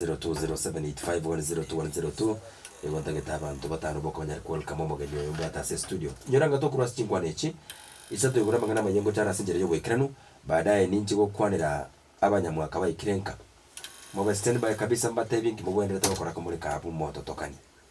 0207851002 Nigo ntagete abanto batano bokonyare ko welcome omogeni oyo mbwate ase estudio. Inyora ng'a tokorwa ase chinkwana echi isato igoro amang'ana amayia ngochara ase enchera y'oboikeranu, baadaye ninche gokwanera abanyamwaka baikire nka. Mobe standby kabisa mbatebie nki mogwenerete gokora ko more ka abwo mototokani.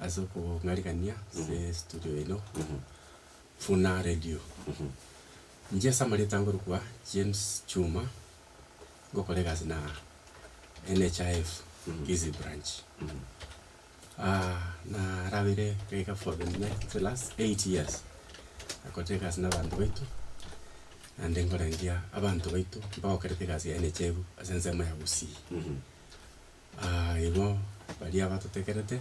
Ase okong'arigania ase estudio eno buna radio. Inche ase amareeta nkorokwa James Chuma, ngokora egasi na NHIF Kisii branch. narabeire iga for the next the last eight years nakorire egasi na abanto baito, naende nkorandia abanto baito bagokerete egasi ya NHIF ase ensemo ya Gusii. Aa igo baria batotegerete,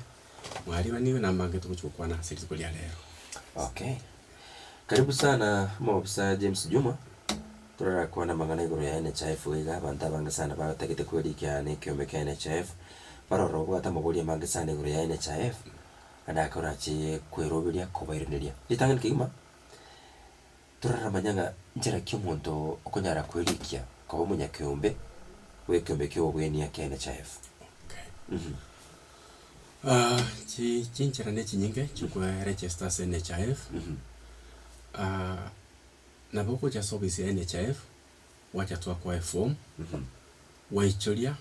mwaribanigwe nambange togochi gokwana ase rituko ria rero. Okay. Karibu sana Omobisa James Juma, torarakwane amang'ana igoro ya NHIF iga iga, abanto abange sana batagete kwerikea nekiombe kia NHIF, baroro obwate amabori amange sana igoro ya NHIF, ande ake orache kweroberia kobairaneria. Ritang'ani kegima. Toraramanya ng'a nchera ki omonto okonyara kwerikia koba omonyakeombe bw'ekeombe ki'obogoinia kia NHIF? Okay. Chi chinchera ne chinyinge chi'okoeregesta ase NHIF, nabo ogocha ase ofisi ya NHIF, gwacha twakoa eform, gwaichoria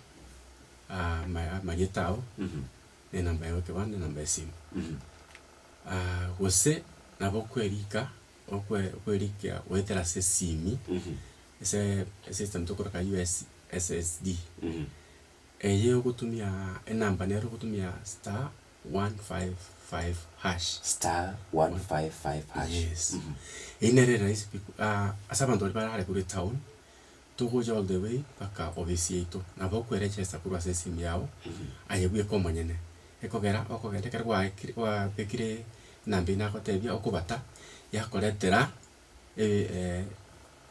ama amarieta ao, na enamba yao y'ekebande, enamba y'esimu. Gose nabo okwerika. okwe okwerikia goetera ase esimi, ase ase egesamu tokoroka US SSD, eye ogotumia enamba nero ogotumia star one five five hash. Star one five five hash. Yes. Eyio nere erahisi pi ase abanto baria barare korwa etown. togocha all the way mpaka ofisi yaito, na bakoerechesta korwa ase esim yao, aye bweka omonyene, ekogera okogenda ekero gwaikire gwabekire enamba eywo nagotebia okobata, yakoretera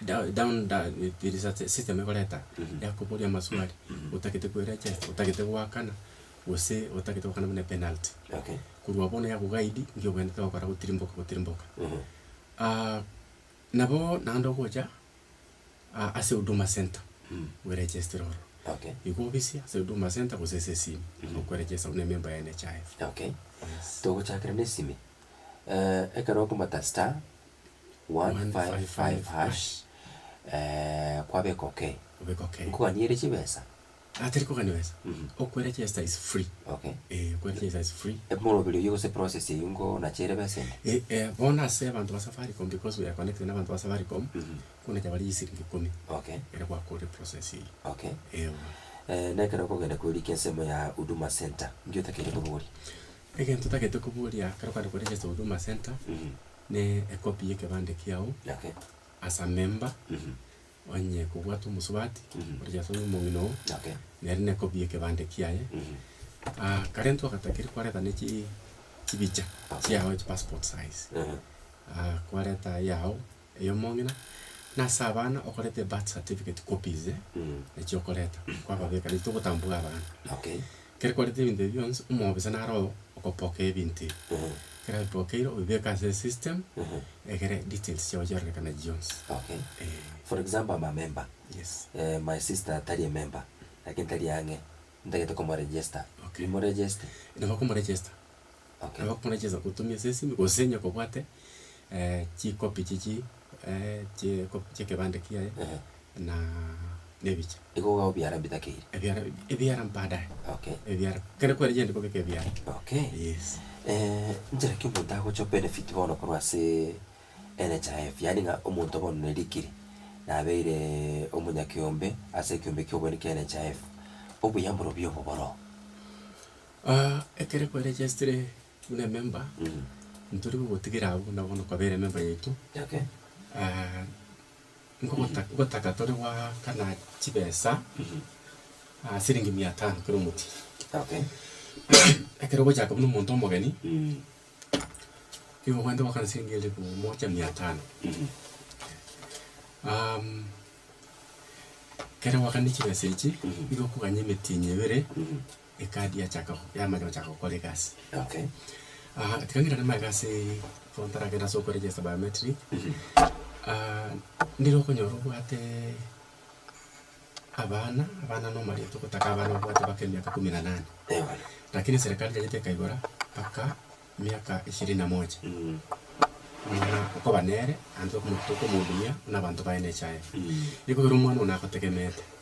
down down da tiri sa system ekoreta yakoboria amaswali otagete koerechesta, otagete goakana, gose otagete goakana buna epenalty. Korwa bono yago guide ngio obwenerete ogokora gotirimboka gotirimboka. Nabo naende ogocha aa ase huduma centre bweregestire ororo. Okay. Igo obisia ase huduma centre gose ase esimi nabo okweregesta buna ememba ya NHIF. Okay. Yes. Togochakera na esimi. Eh, ekero okomata star, one five five hash, eh, kwabeka okay. Obeka okay. Nkoganyere chibesa. Ah tari kogania besa. Mhm. Okwera chesa is free. Okay. Eh okwera chesa is free. Emoroberi oyio gose process eyio ngo nacheire besa ende? Eh eh bono ase abanto ba Safaricom because we are connected na abanto ba Safaricom, Mhm. konacha bare chisiringi ikomi Okay. ekero gwakorire process eyio. Okay. Eowa. Eh na ekero okogenda kwerika ensemo ya Huduma Centre, inki otakeire koboria? Egento otagete koboria ekero okogenda kwe register Huduma Centre, Mhm. ne ecopy ya ekebande kiao Okay. as a member, Mhm. onye kobwate omosubati, Mhm. ore Yeso nigo omong'ina oo, Okay. nere nekobie ekebande kiaye. Mhm. Ah, kare intwe ogatakeria kwareta ne chi- chibicha Okay. chiago echi passport size. Ehe. Ah, kwareta eyao eya omong'ina, na ase abana okoreta ebirth certificate copies, Mhm. nachio okoreta, kwababeka, nachio togotambuga abana. Okay. Kere kwarete ebinto ebi bionsi, omobisa naro oo okopokea ebinto ebi. Kere abipokeire, obibeke ase esystem, egere details chiao chiarorekane chionsi. Okay. Eh. For example am a member, Yes. eh, my sister tari emember, lakini tari ang'e, ntagete komoregister. Okay. Nimuregeste? Nabo okomoregister. Nabo buna chiaanza gotumia ase esimi, gose onye kobwate chikopi chichio chie copy chia ekebande kiaye na nebicha. Igo iga obiara bitakeire. Ebiara ebiara mbaadae. Okay. Ebiara kere kweri genda kobeka ebiara. Okay. Yes. nchera ki omonto agocha obenefit bono korwa ase NHIF, yaani ng'a omonto bono ne rikiri, nabeire omonyakeombe ase ekeombe kia oboeni kia NHIF, obuya mborobio obo boroo. Aa ekero kwarejestire buna ememba, ntori gogotigera abwo buna bono kwabera ememba yaito, nkogota gotaka tore goakana chibesa, siringi mia tano kera omotienyi. Ekero ogochaka buna omonto omogeni, nigo ogwete goakana siringi elifu moja mia tano. ekero goakanirie chibesa echi, nigo okoganyia emetienyi ebere. Ekadi yachaka go- yamanya gochaka gokora egasi. Okay. Ah, tiga ngende nemaete ase igo ntaragende ase okoregister biometric, ah, ndire okonyora obwate abana, abana na omorito ogotaka abana obwate mpaka emiaka kumi na nane. Eh, bono. Lakini serikali yanyete ekaigora mpaka miaka ishirini na moja. Mm. Muna okoba nere, naende okomo- tokomohudumia buna abanto baye na echaye. Mm. Ekero omwana one agotegemete,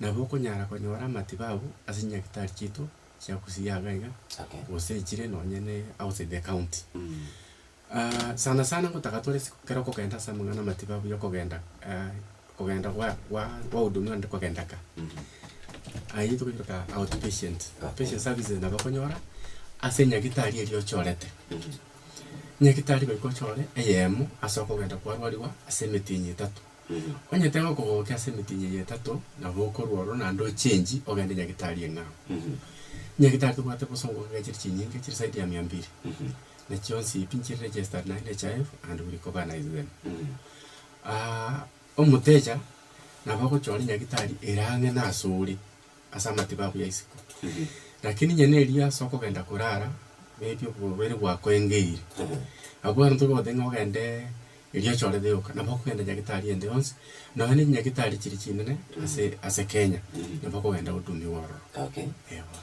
Nabo okonyara konyora amatibabu ase nyagetari chiaito chia gusii iga iga Okay. gose echire nonye ne outside the county. Ah sana sana ngotaka tore ase ekero okogenda ase amang'ana amatibabu ya okogenda ah okogenda gwa gwa gwahudumiwa naende kogenda ka. Ayio tokoyebeka out patient, out patient services nabo okonyora ase nyagetari eria ochorete. Nyagetari goika ochore eyemo ase okogenda kwarwariwa ase emetinyi etato. Onye tegokogokia ase emitinyi eye etato, nabo okorwa ororo naende ochenji ogende nyagetari eng'ao. Nyagetari tobwate bosongo kegechire chinyinga chire zaidi ya mia mbili, na chionsi pi nchire registered na NHIF and we recognise them. Omotecha nabo ogochia ore nyagetari ere ang'e nase ore. ase amatibabu ya isiko. Lakini onye nerio ase okogenda korara, maybe oborwaire bwakoengeire, abwo abanto bagoteba ng'a ogende erio ochorete yoka, nabo okogenda nyagetari ende yonsi, nonya ne chinyagetari chiri chinene ase ase Kenya, nabo okogenda odumiwa ororo. Okay. Eeh bono.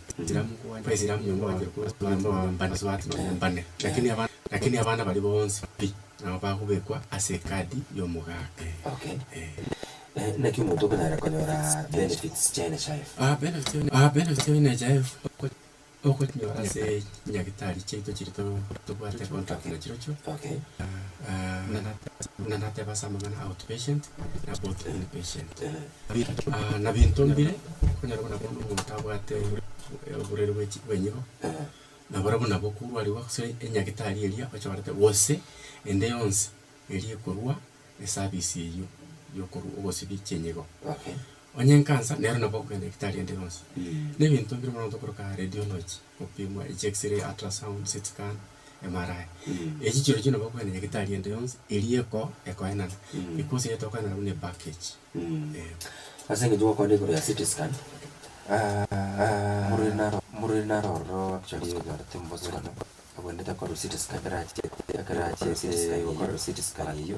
Lakini abana baria bonsi pi nabo bagobekwa ase ekadi y'omogaka. Okay. Naki omonto okonyara konyora benefits chia NHIF? Benefits chia NHIF okonyora ase chinyagitari chiaito chiria tobwate contract nachirochio. Okay. Buna nateba ase amang'ana a out patient na both in patient. Nabinto mbire, okonyora buna bono omonto abwate oborwaire bwenyigo, nabarabwo nabo korwarigwa gose enyagitari eria ochoorete gose ende yonsi eria ekorwa eservice eywo yokorwa ogosibia chinyigo. Onye nkansa nero nabo okogenda nyagetari ende yonsi. Nebinto mbire mono korokana radiology. Gopimwa echiXray, ultrasound, CT scan, MRI. Echi chirochio nabo okoenda nyagetari ende yonsi eria eko ekoenana. Ekwo gose yatokoenana buna epackage. Eh. Ase eng'encho gokwana igoro ya CT scan, omorweri naro omorweri naro ororo actually oyorete omobosong'ano, abwenerete akorerwa CT scan ekero achete ekero achete gokorerwa CT scan eyio.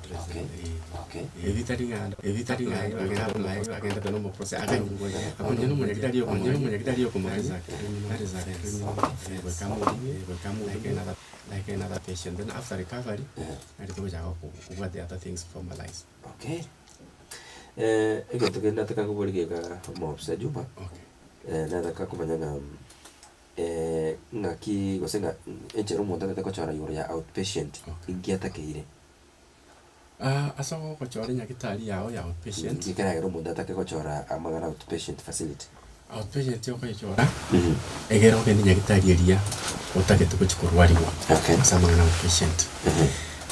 egento kende nataka kobori geka omofisa Juma, nataka komanya ng'a ng'aki gose ng'a enchera omonto atagete gochora igoro ya out patient, inki atakeire. Ase ogochora enyagitari yago ya outpatient. Nki ekeragera omonto atake gochora amang'ana a outpatient facility? Outpatient okoyechora egere ogende nyagitari eria otagete gochia korwarigwa Okay. ase amang'ana a outpatient.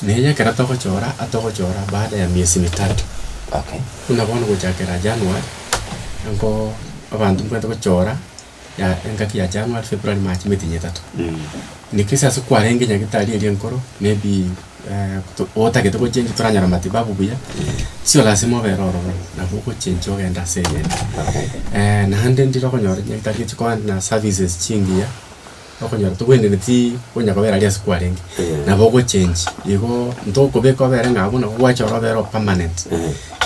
Na eye ekero togochora atogochora baada ya miezi mitato. Okay. Buna bono gochakera January, abanto mbwenerete gochora ya engaki ya January, February, March, emetienyi etato. Niki ase ase kwarenge nyagetari eria enkoro, maybe eh, to- otagete gochenjwa toranyora matibabu buya, sio lasima obere ororo, nabo ogochenjwa ogende ase eyende. Eh, naende ndire okonyora nyagetari echikoenda na services chingiya. Okonyora togwenereti konya kobera aria ase kwarenge, nabo ogochenchi igo ntokobeka obere ng'a abwo nabo gwachora obere o permanent.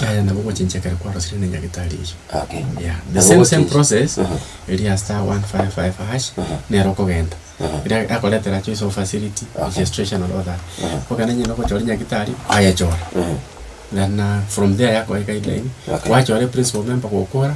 Yaya nabo ogochenchi ekero kwarosirie na nyagetari eyio. Okay. Yeah, the Nabo same same ogochenchi. process Aha. eri ya star 155 hash Aha. nero okogenda Aha. ere akoretera choice of facility Okay. registration and all that Aha. okogenda onye nogochora nyagetari kwayechora Aha. then uh, from there yakoe guideline Okay. gwachora principal member gokora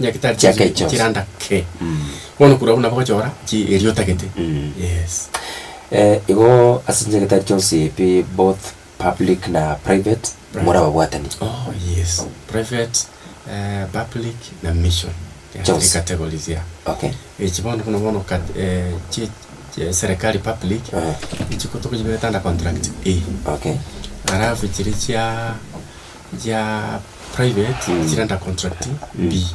Nyagetari Chiake chiri chionsi. chiranda ke. Bono korwa abwo nabo gochora chi eria otagete. Mm. Yes. Eh, igo ase chinyagetari chionsi pi both public na private, Private. more ababwatani. Oh yes. Private, eh, public na mission. Three Chionsi. categories yeah. Okay. Echi bono buna bono kat- eh, chi chi- serekari public, Aha. echi ko tokochiberete under contract A. Okay. Alafu chiri chia. chia private chire under contract mbi,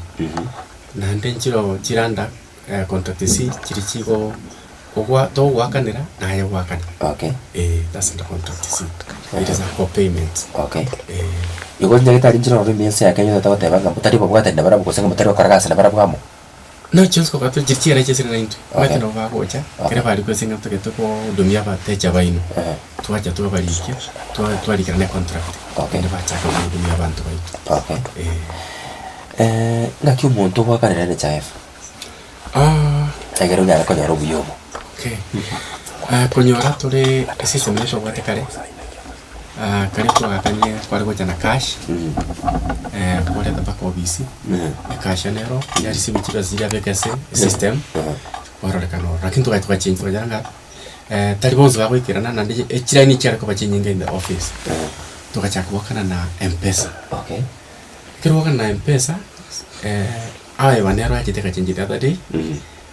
naende nchiroo chire under contract isi chiri chigo ogwa togoakanera naye ogoakane Okay. eh that's under contract isi it is for payment Okay. eh. Igo nyagete arinche nonye ense ya Kenya togoteeba ng'a motari babwatani nabarabwo gose ng'a motari gokora gasi nabarabwo amo. Naki chionsi tobwate chiri chiera chia esere naintwe, omanyete nabo bagocha, ekero barikwa ase eng'encho totagete gohudumia abatecha baino, twacha twabarikia, twa- twarikera na econtract naende bachaka gohudumia abanto baito. Okay. Eeh. naki omonto ogoakana nere chaefa, ekiagera onyare konyora obuya obo. Okay, konyora tore esystem eyio twabwate kare. Ah, kare twagakanie kware gocha na cash, eh, komoreta mpaka obisi, e cash ene ero, ya receive chire ase yire abeke ase esystem, kwarorekana ororo. Lakini togachia twachengi twachera ng'a, eh, tari bonsi bagoikerana, naende ye- echireni chiare koba chinyinge in the office. Togachaka goakana na mpesa, Okay. ekero gwaakana na mpesa, eh, aye one ero achete agachengi the other day,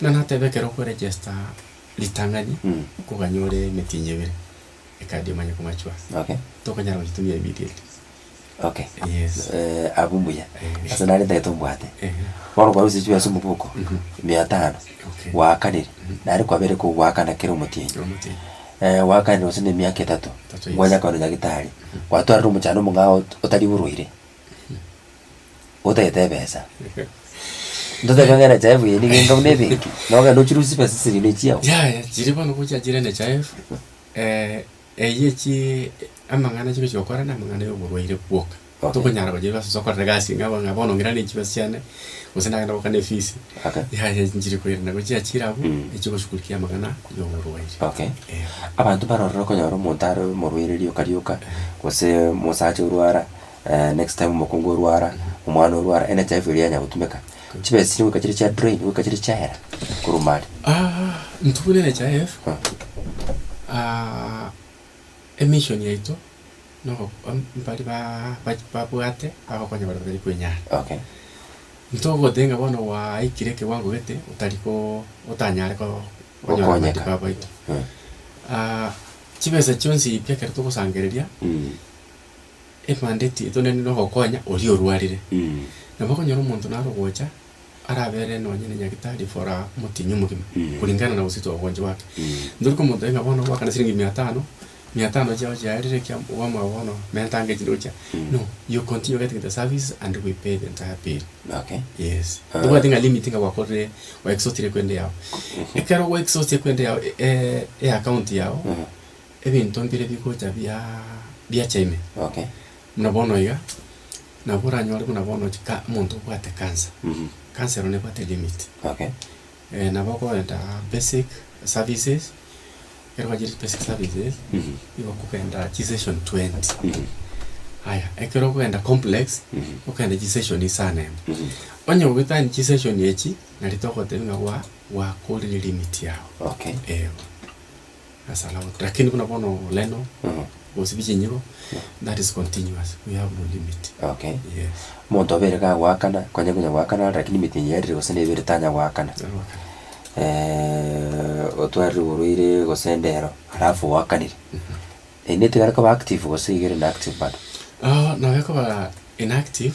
Buna nateba ekero okoregester ritang'ani koganya ore emetienyi ebere ecard emanye komachua Okay. tokonyara goyitumia immediately. Okay. Yes. Eh, abwo mbuya. Eh. Ase nare ntagete ombwate. Eh. Bono okwarosirie chibesa omoboko, mia tano, Okay. gwakanire, nare kwabere kogoakana kera omotienyi. Kera omotienyi. Eh, gwakanire gose na emiaka etato, Etato, yes. kwanya koenda nyagitari, gwatwarire omochando omong'ao ot- otari orwaire, Otagete ebesa. Ntotebe ng'a NHIF eye nigo enga buna ebenki, na ogende ochirusie chibesa chiria na echiao. Yaya, chiria bono gocha chire NHIF, eywo chii amang'ana chire chiokora na amang'ana ya oborwaire bwoka. Okay. Tokonyara gochia chibesa chio okorera egasi ng'a bono ng'a bono ng'ira ne chibesa chiane, gose nagenda goka ne efisi. Okay. Yaya echi nchiri koirana gochia chire abwo, Mm. echigoshugulikia amang'ana ya oborwaire. Okay. Eeh. Abanto mbarorire okonyora omonto are omorwaire rioka rioka, gose omosacha orwara. Next time omokungu orwara, omwana orwara, ene chaefu eria yanya gotumeka, chibe chiri goika chiri chia drain, goika chiri chiaera korwa mare. Ntubune ne chaefu, emission yaito nogo mbari baa babwate abagokonya baria batari kwenyara. Okay. Ntogote ng'a bono gwaikire ekewango gete otari ko otanyare ko konyora Okonyeka. matibabu aito. Chibesa chionsi pi ekero togosangereria. Ebandeti etonenire ogokonya oria orwarire. Nabo okonyora omonto naro ogocha arabere nonye ne nyagitari for a omotienyi omogima kuringana na gose ogochi gwake. Ntori komotebia ng'a bono ogwakana chiringi mia tano, mia tano chiao chiarire ekia okwamogera bono menta ango echi ndochia. No, you continue getting the service and we pay the entire bill. Yes. Tobwati ng'a limit ng'a gwakorire o exhaustire equende yao. Ekero gwa exhauster equende yao e- e account yao. ebinto mbire bigocha bia biacha ime Okay. buna bono iga, nabo oranyore buna bono ch- ka omonto obwate cancer, Mhm. cancer ero nebwate limit. Okay. Eh, nabo okogenda basic services, ekero bachire basic services, Mhm. nigo okogenda chisession twenty. Mhm. Aya, ekero okogenda complex, Mhm. okogenda chisession isa ne emo. Mhm. Onye goetania chisession echi, nari togotebia ng'a gwa- gwakorire limit yago. Okay. Eeh. Asalamtu, lakini buna bono oleno, gosibi chinyiro, that is continuous, we have no limit. Okay. Yes. Monto obeire iga agoakana, kwanyare konya goakana are lakini emete eye erire gose nebere tanya goakana. Aroakana. otwarire oborwaire gose endero alafu oakanire. Eri netigare koba active gose iga ere inactive bado? nabo ekoba inactive,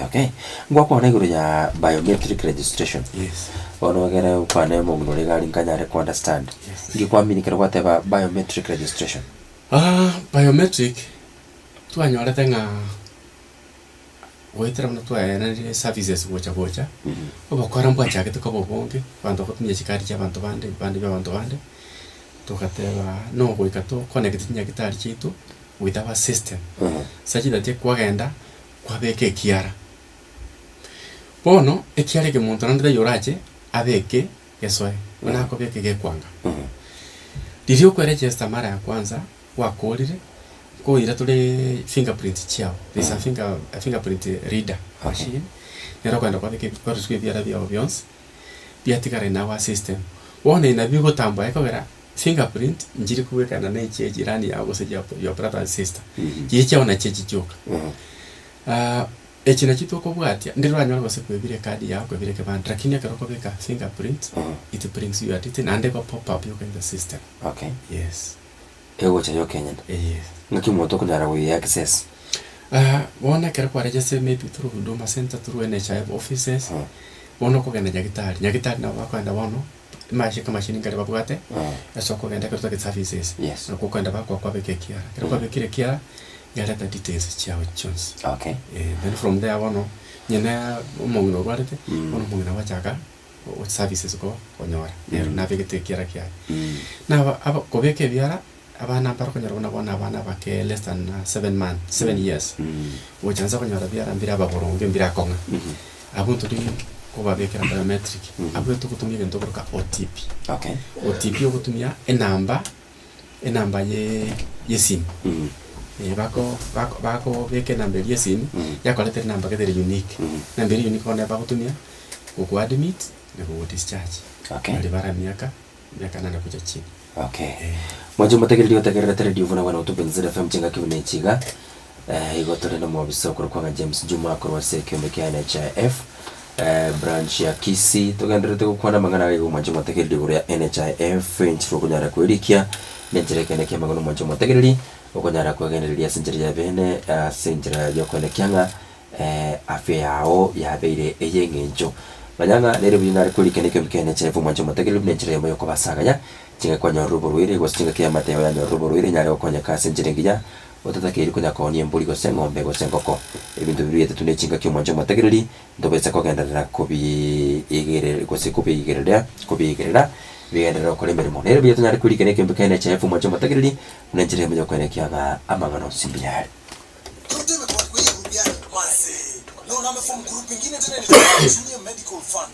Okay. Ngwakwana igoro ya biometric registration. Yes. Bono egere okwane omong'ina ore egari nkanyare ko understand. Yes. Ngikwaminikere gwateba biometric registration. Aah biometric twanyorete ng'a goetera buna twaeneire services gocha gocha. Obokora mbwachagete koba obonge, abanto bagotumia chikadi chia abanto bande, ebipande bia abanto bande, togateba nogoika to connect chinyagitari chiaito. with our system such that kwagenda kwabeka ekiara. Bono ekiara eke monto naende taiyo orache abeke gesoe buna akobeka egekwanga. Riria okwe register mara ya kwanza gwakorire nkoira tore finger print chiao there is a finger a finger print reader machine nero okogenda kwabeka ebi- kwarosiwa ebiara biao bionsi. biatigare nao ase esystem. Bono ina bigotambwa ekogera fingerprint nchiri kobwekana ne chia ejirani yao gose chia your brother and sister. Chiria chiao nachio echi chioka. Aah echi nachio tokobwatia ndire oranyore gose kwebira ecard yao kwebira ekebande lakini ekero okobeka fingerprint it brings you your detail naende ego pop up yoka in the system. Okay. Yes. egocha y'okenyene. Eeh. Ng'aki omonto okonyara goyea access? Aah bono ekero kwaregeste maybe through Huduma Centre, through NHIF offices, bono okogenda nyagitari, nyagitari nabo bakoenda bono amache amashirini nkaria babwate ase okogenda ekero otagete services. Yes. Nabo okoenda bakoa kwabeka ekiara, ekero kwabekire ekiara, yareta details chiago chionsi. Okay. Eeh, then from there bono onye na omong'ina orwarete, bono omong'ina ogochaka Gocha services ko konyora nero nabegete ekiara kiaye na aba kobeka ebiara abana mbaro konyora buna bono abana abake less than seven months seven years gocha nse konyora ebiara mbire ababoronge mbire akong'a abwo ntodi kobabekera biometric abwo togotumia egento okoruka OTP, OTP ogotumia enamba. enamba ye- yesimu, eh, bako bako bakobeka enamba eria yesimu, yakoretera enamba gete ere unique. Enamba eria unique bono nabo bagotumia gokuadmit na gokudischarge. Okay. Baria bare emiaka, emiaka nane gocha chini. Okay. Eh. Mwanche omotegereri otegererete rediomfuna buna botuko Inzira FM chingaki buna echi iga, Igo tore nomobisa okorwa kwang'a James Juma korwa ase ekeombe kia NHIF branch ya Kisii. Togendererete gokwana amang'ana agaiga omwancha omotegereri igoro ya NHIF, enchera okonyara koerikia, na enchera ekeene ki'amang'ana omwancha omotegereri okonyara kwegendereria ase enchera y'ebeene ase enchera y'okoenekia ng'a afya yao yabeire ey'eng'encho. Manya ng'a nere buya nare koerikana ekeombe kia NHIF omwancha omotegereri buna enchera yaimo y'okobasaganya chingaki kwanyorire oborwaire, gose chingaki y'amate yao yanyorire oborwaire enyare gokonyeka ase enchera engiya. Otatakeiri konyakonia embori gose eng'ombe gose engoko, ebinto bibio biatato ne chingaki omwanche omotagereri, ntobisa kogenderera kobiigerer gose kobiigereria kobiigerera, bigenderere gokora emeremo. Nere mbuya tonyare koirikania ekeombe kende ne chaefu omwanche omotagereri, buna enchera emo ya koiraneria aba amang'ana onsi mbuya are.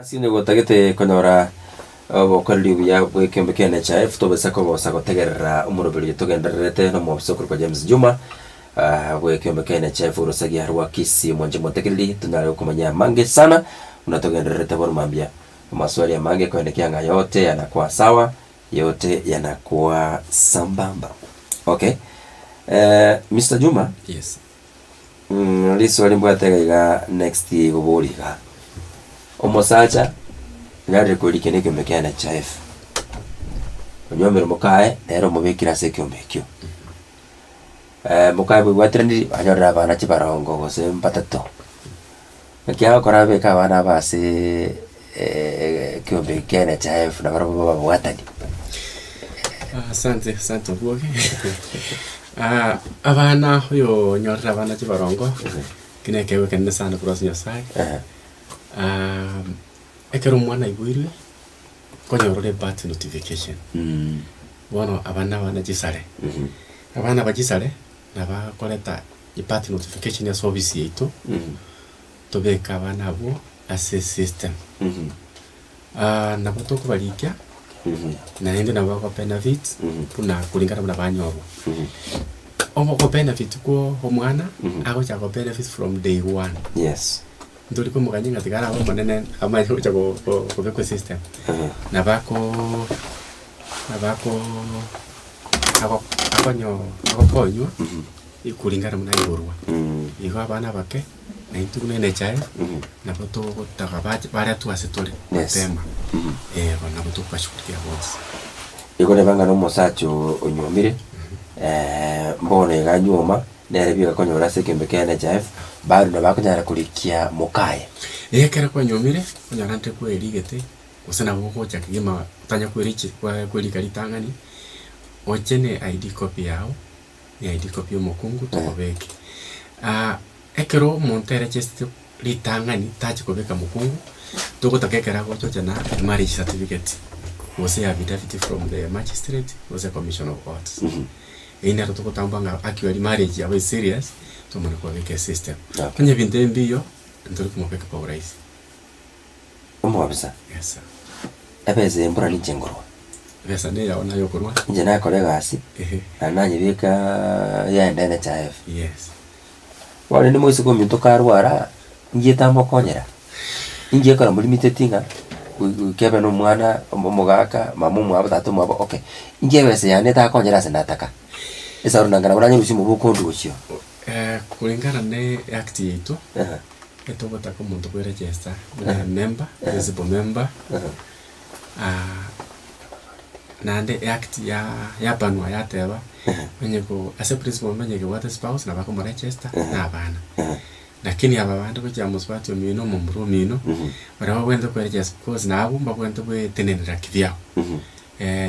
Ase nigo totagete konyora obokoreri obuya bw'ekeombe kia NHIF tobisa kobosa gotegerera omoroberi oyo togendererete na omwofisa okoroka James Juma bw'ekeombe kia NHIF orosagia rwa Kisii. Mwanche mwantegereri tonyare gokomanya amange sana buna togendererete. Bono mambia. Amaswali amange korende kianga yote yana kwa sawa yote yana kwa sambamba okay Mister Juma yes riswali mbwate iga iga next igobori iga omosacha narire korikena ekiombe kia NHIF onyombire mokaye nere omobekire ase ekiombe ekio mokaye bwebwateranirie anyorire abana chibarongo gose mbatato. Ekiagera ogokora abeke abana aba aseee ekeombe ekiane chaefu na barabwo babe ababwatani. Asante asante oboke abana oyoo onyorire abana chibarongo eki na ekegwe kenene sana korwa ase Nyasaye, ekero omwana aiboirwe konyora ore part notification bono aba nabana chisare, abana aba chisare nabakoreta. I part notification ase office yaito tobeke abana abwo ase system nabo tokobarikia naende nabo bako benefit buna kulingana buna banyorwa ogo benefit kwo omwana agochaka ko benefit from day one yes ntori komogania ng'a tiga arabe omonene amanye gocha kobekwa esystem nabo ako nabo ako ako akonyo akokonywa. Ekulingana buna igorwa, igo abana abake, naintwe buna enechae, nabo togotaga bache baria twa ase tore, Yes. mapema, eh, bono nabo tokobashugurikia bonsi. Igo reba ng'a na omosacha oo onyuomire, bono iga anyuoma, nere bieka konyora ase ekeombe kia NHIF, bado nabo akonyara korikia mokaye. Eh ekero kwanyuomire, onyora nte kwerigete, gose nabo ogocha kegima otanya kweriche kwa kwerika ritang'ani, oche ne ID copy yago, Eh, riko bi'omokungu tokobeke. Ah, ekero omonto ere achesete ritang'ani tachi kobeka mokungu, togotaka ekero agochocha na marriage certificate, gose affidavit from the magistrate gose commission of courts. Eyio nero togotambua ng'a actually marriage yabo is serious, tomana kobabeka esystem. Okay. Onye ebinto ebi mbiyo, ntori komobeka kwa urahisi. omobisa. Yes sir. Ebesa y'embura ninche nkorwa. Ebesa neyao naye okorwa. Inche nakora egasi. Ehe. Na nanyebeka yende NHIF. Yes. Bono rende moiseke ominto karwara, ngiye tamokonyera. Ingiye kora molimited ng'a goika ebe nomwana omogaka, mama omwabo, tata omwabo, okay. Inche ebesa yane etakonyire ase nataka. Esauri nanga nabo nanyore obosie omobe okondusia oo. Korengana ne act yaito. Etogotaka omonto ko eregesta buna ememba, principal member, ah, naende eact ya yapanwa yateba, onye ko ase principal member onye kebwate spouse nabo akomoregesta na abana. Lakini aba bande gochia mosubati omino, omomura omino, baria babwenerete koeregesta cause na abwo mbabwenerete goetenenera kibiao.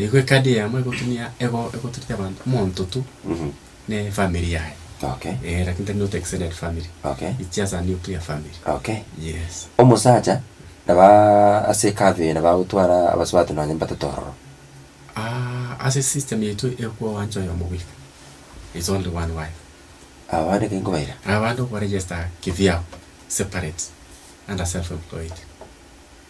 Igo ekadi eyemo egotumia ego egotureti abanto omonto tu. ne family yaye Okay. eh lakini tari not extended family Okay. it's just a nuclear family Okay. yes Omosacha naba ase ekabe eye naba agotwara abasubati nonye mbatete ororo. Ah, ase system yaito ekwo owanche oyomo bweka is only one wife Abande ki nkobaira? abande okobaregister kibiao separate under self employed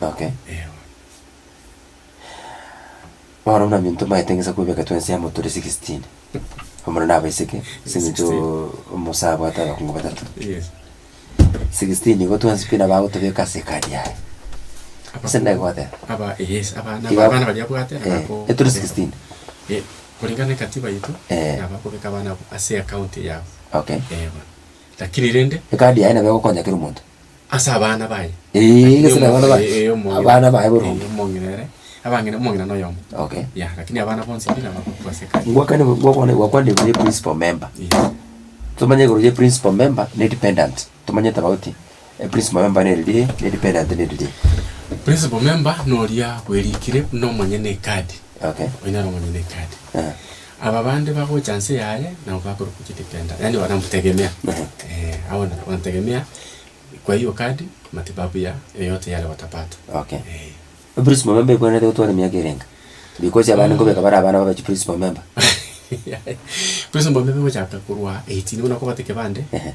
Okay. Eeh. Bono buna intwe twaete ng'isa kwebeka twensi amo tore sixteen, omorero na abaiseke, ase eng'encho omosae abwate abakungu batato. Yes. Sixteen igo twensi pi nabo agotobeka ase ekadi yaye. Ase nda goteba. Aba yes, aba na Iga- abana baria abwate na Eh, bako- etore sixteen. Eh, kuringana na ekatiba yaito, Eh. nabo akobeka abana abwo ase account yabo. Okay. Eeh bono. Lakini rende. Ekadi yaye nabo egokonya kera omonto. Ase abana baye. Eeh, Lakini ase omo- abana baye. eh, eh, omong'ina- Abana baye boronge. eh, omong'ina ere, abang'ina- omong'ina noyomo. Okay. Yeah, lakini abana bonsi pi naba abakobua ase ekari. Ngwakane ngwakwane ngwakwane igoro ya principal member. Yes. Tomanye igoro ya principal member na edependent. Tomanye tofauti ya principal member nere ri eh, na edependent nere ri. Principal member noria bwerikire buna omonyene ekadi. Okay. Onyare omonyene ekadi. Eeh. Aba bande bagocha nse yaye nabo bakore kugete kenda, yaani bagamutegemea. Eh, abo nabo bantegemea, kwa hiyo kadi matibabu ya yoyote yale watapata. Okay. Eh. Principal member ekwenerete gotwara emiaka erenge? Because abande nkobeka bare abana babe chiprincipal member. Principal member ogochaka korwa eighteen buna kobate kebande, Ehe.